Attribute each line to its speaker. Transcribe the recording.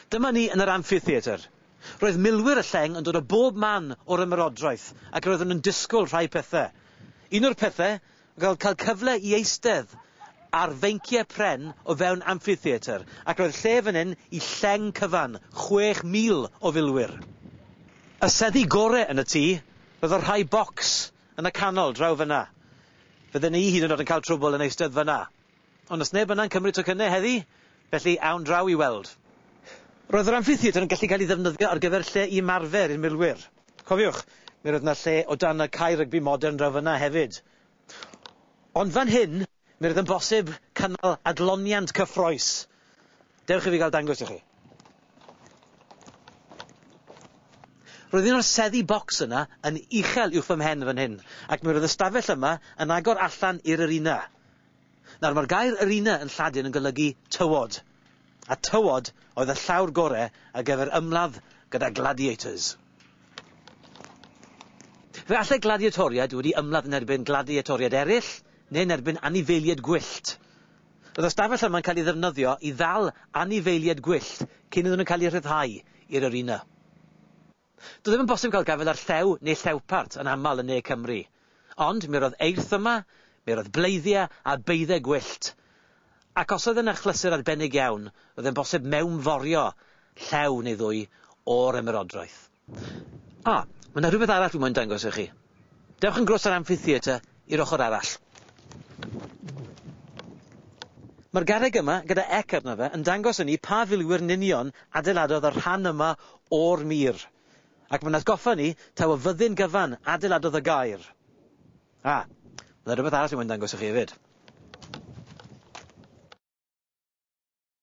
Speaker 1: Dyma ni yn yr Amphitheatre. Roedd milwyr y lleng yn dod o bob man o'r ymerodraeth ac roedden nhw'n disgwyl rhai pethau. Un o'r pethau oedd cael cyfle i eistedd ar feinciau pren o fewn Amphitheatre ac roedd lle fan hyn i lleng cyfan, 6,000 o filwyr. Y seddi gorau yn y tŷ, roedd y rhai bocs Yn y canol, draw fyna. Fydden ni hyd yn o'd yn cael trwbwl yn eistedd fyna. Ond os neb yna'n cymryd tocynne heddi, felly awn draw i weld. Roedd yr amffitheatr yn gallu cael ei ddefnyddio ar gyfer lle i ymarfer i'r milwyr. Cofiwch, mi roedd 'na lle o dan y cae rygbi modern draw fyna hefyd. Ond fan hyn, Mi roedd yn bosib cynnal adloniant cyffrous. Dewch i fi gael dangos i chi. Roedd un o'r seddi bocs yna yn uchel uwch fy mhen fan hyn, ac mi roedd y stafell yma yn agor allan i'r arena. Nawr, mae'r gair arena yn Lladin yn golygu tywod. A tywod oedd y llawr gore ar gyfer ymladd gyda gladiators? Fe allai gladiatoriaid wedi ymladd yn erbyn gladiatoriaid eraill, neu yn erbyn anifeiliaid gwyllt. Roedd y stafell yma'n cael ei ddefnyddio i ddal anifeiliaid gwyllt cyn iddyn nhw cael eu rhyddhau i'r arena. Doedd ddim yn bosib cael gafael ar Llew neu Llewpart yn aml yn Ne Cymru. Ond mi roedd eirth yma, mi roedd bleiddiau a beudde gwyllt. Ac os oedd e'n achlysur arbennig iawn, roedd e'n bosib mewnforio Llew neu ddwy o'r ymerodrwydd. A, mae 'na rhywbeth arall dwi moyn dangos i chi. Dewch yn groes yr amphitheatre i'r ochr arall. Mae'r garreg yma, gyda ec arno fe, yn dangos i ni pa filwyr nunion adeiladodd y rhan yma o'r mur. Ac mae'n atgoffa ni taw y fyddin gyfan adeiladodd y gaer. A, byddai rhywbeth arall yn moyn dangos i chi hefyd.